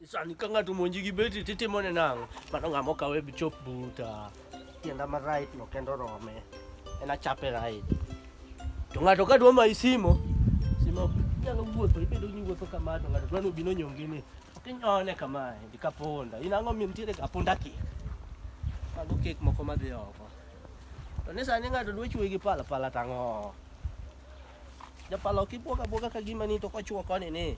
Sani ka ng'ato monji gi beti titimone nang'o? Mano ng'ama okawe bi chop buta. Tienda ma right no kendo rome. En achape right. To ng'ato ka dwa mayi simo, simo nyalo wuotho, ibedo ni wuotho kama to ng'ato dwa ni obino nyongi ni. Ok inyone kama, ndi kaponda. In ang'o mi nitiere kaponda kik? Mago kek moko madhi oko. To ni sani ng'ato dwa chwe gi pala pala tang'o. Japala ok ibuoga buoga ka gima ni to kochwo koni ni.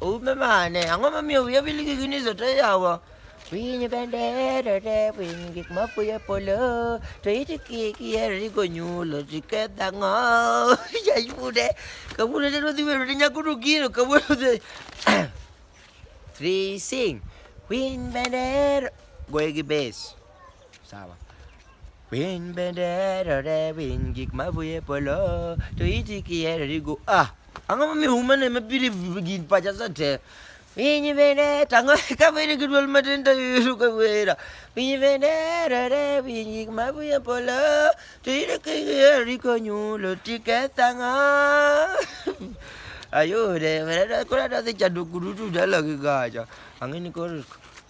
Umemane, angoma mio ya biligi ginizo tayawa. Winyi bendera re winyi gik mafuyo polo to iti kiki eri gonyulo tiketha ng'o yayude kawuono te rodhi wero ne nyakono gino kawuono te three sing winy bendera goye gi base Sawa. Win bendera re win gik mavuye polo to iti kiere rigo ah ang'o momiyo umane mabiri gin pacha sate Piny bende tango ka bende gi dwol matin to yudo ka wera Piny bende rere piny gik mavuye polo to ire kigiero riko nyulo tiketho ang'o ayude koro adhi chando kudutu dala gi gacha ang'e ni koro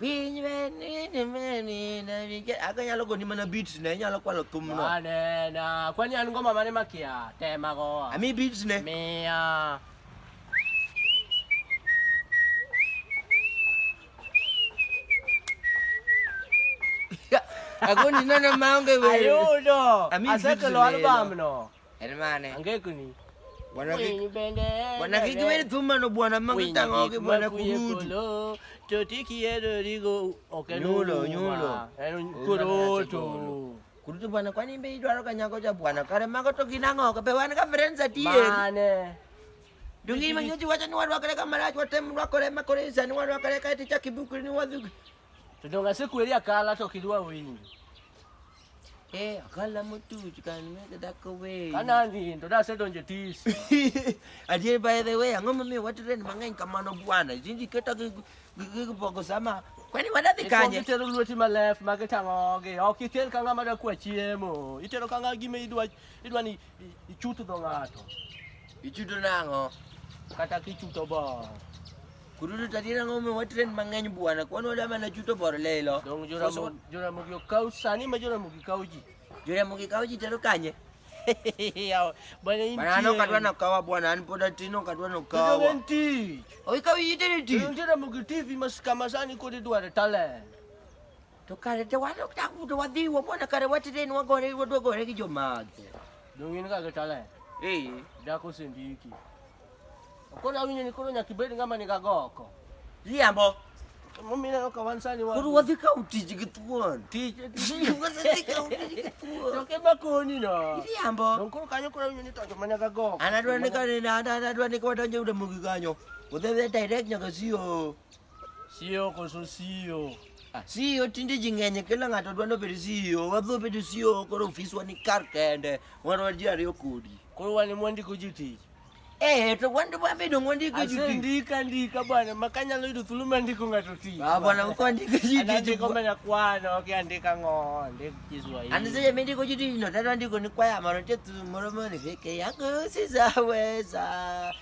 Piny venini venina vike aka nyalo goni mana beats ne nyalo kwalo thum no. Anena. Kwani an ngoma mane makia? Tema go. Ami beats ne. Mia. Agoni nana maonge wewe. Ayudo. Ami beats Asekelo ne, album no. Hermane. Angekuni. Bwana kiki. Bwana kiki bali thumma no bwana mangita ngoke bwana kurudi. Toti kiero rigo okenulo nyulo. Kuroto. Kurutu bwana kwani mbe idwaro kanyago cha bwana kare mago to kinango ka be wan ka friends atie. Mane. Dungi manyoji wacha ni wadwa kare kama rajo tem wadwa kare makore zani wadwa kare kati cha kibukuri ni wadhu. Tudonga siku elia kala to kidwa wingi. Eh, akala mutu chikani mega dako we. Kana ndi ndo da sedo nje tis. Aje by the way, angoma me watu ren mangany kamano bwana. Jinji keta ke ke boko sama. Kwani wadathi kanye? Itero luoti ma left ma ketango ge. Ok iter kanga ma da kwa chiemo. Itero kanga gime idwa idwa ni ichuto do ngato. Ichuto nango. Kata kichuto bo. Kududu tadi na ngombe wa trend mangeny bwana. Kwani wada mana chuto bor lelo. Dong jura mo jura mo yo kau sani ma jura mo ki kau ji. Jura mo ki kau ji tero kanye. Bwana inti. Bwana no kadwa na kawa bwana an poda tino kadwa no kawa. Jura inti. Oi kau yi tero ti. Jura mo ki TV mas kama sani ko de duare talent. To kare te wan ok taku to wadhi wo mona kare watire ni wagore wadwa gore gi jomage. Donge in kaka talent. Eh, Dako sendiki. Koro awinjo ni koro nyaka ibed ng'ama ni gagoko. riambo. Momina ka wan sani wa. Koro wadhi kawo tich gi thuon. Tich. Wadhi kawo tich gi thuon. To ke bakoni no. Riambo. Donge koro kanyo koro awinjo ni tonjo mana gagoko. An adwa ni kare na an adwa ni kwadonjo e ute mogi kanyo. Udhi direct nyaka sio. Siyo koso siyo. Ah, siyo tinde ji ng'enye kila ng'ato dwa nobed siyo. Wadho bedo siyo koro ofiswa ni kar kende. Wan wan ji ariyo kodi. Koro wan ema wandiko ji tich. Eh, to wan wabedo ng'ondiko ji tich. Asendika ndika bwana, maka nyalo yudo thuolo mar ndiko ng'ato tich. Ah bwana, mko andiko ji tich. Andiko mana kwano, ok andika ng'o, ndik Kiswahili. Ani sasa mimi ndiko ji tich, no tata ndiko ni kwaya maro chetu moro moro ni vike yangu sisaweza.